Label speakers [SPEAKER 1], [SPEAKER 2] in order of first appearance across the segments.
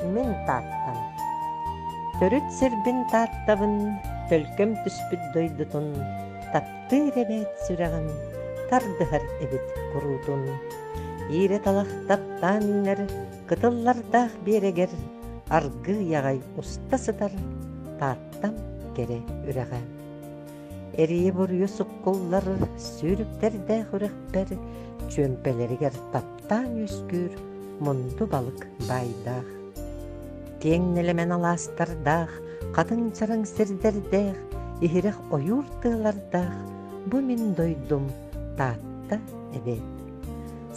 [SPEAKER 1] Мин Тааттан. Төрүт сирбин Тааттабын, төлкөм түспүт дойдутун, таптыыр эбээт сүрэҕим, тардыһар эбит куруутун. Иирэ талах таптаан иҥэр, кытыллардаах биэрэгэр, аргыы аҕай уста сытар, Тааттам кэрэ үрэҕэ. эрийэ буруйу суккуллар сүүрүктэрдээх үрэхпэр чүөмпэлэригэр таптаан үөскүүр мунду балык баайдаах киэҥ нэлэмэн алаастардаах хатыҥ чараҥ сирдэрдээх иһирэх ойуур тыалардаах бу мин дойдум таатта эбээт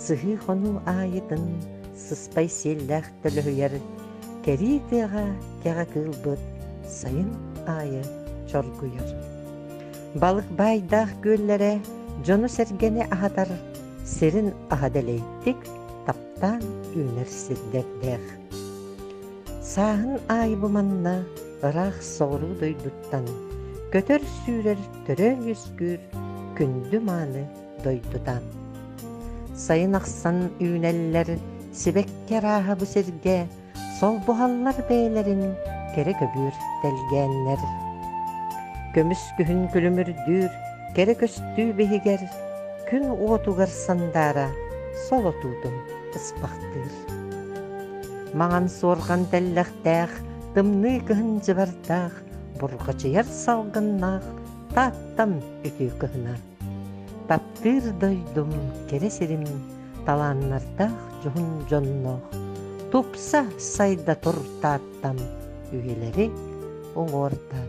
[SPEAKER 1] сыһыы хонуу аайытын сыспай сиэллээх төлөһүйэр кэрии тыаҕа кэҕэ кыылбыт сайын аайы чоргуйар. Балык баайдаах күөллэрэ дьону-сэргэни аһатар сирин аһа дэлэйдик таптаан үүнэр сирдэрдээх. Сааһын аайы бу манна ыраах соҕуруу дойдуттан көтөр сүүрэр төрөө үөскүүр күндү мааны дойдутан. Сайын ахсан үүнэллэр, сибэкки арааһа бу сиргэ солбуһаллар бэйэлэрин кэрэ көбүөр тэлгээннэр. Көмүс күһүн күлүмүрдүүр кэрэ көстүү биһигэр күн уотугар сандаара солотуутун ыспахтыыр. Маҥан суорҕан тэллэхтээх, тымныы кыһын дьыбардаах, бурҕачыйар салгыннаах Тааттам үтүө кыһына Таптыыр дойдум кэрэ сирим талааннардаах дьоһун дьонноох тупса сайда тур Тааттам үйэлэри уҥуордан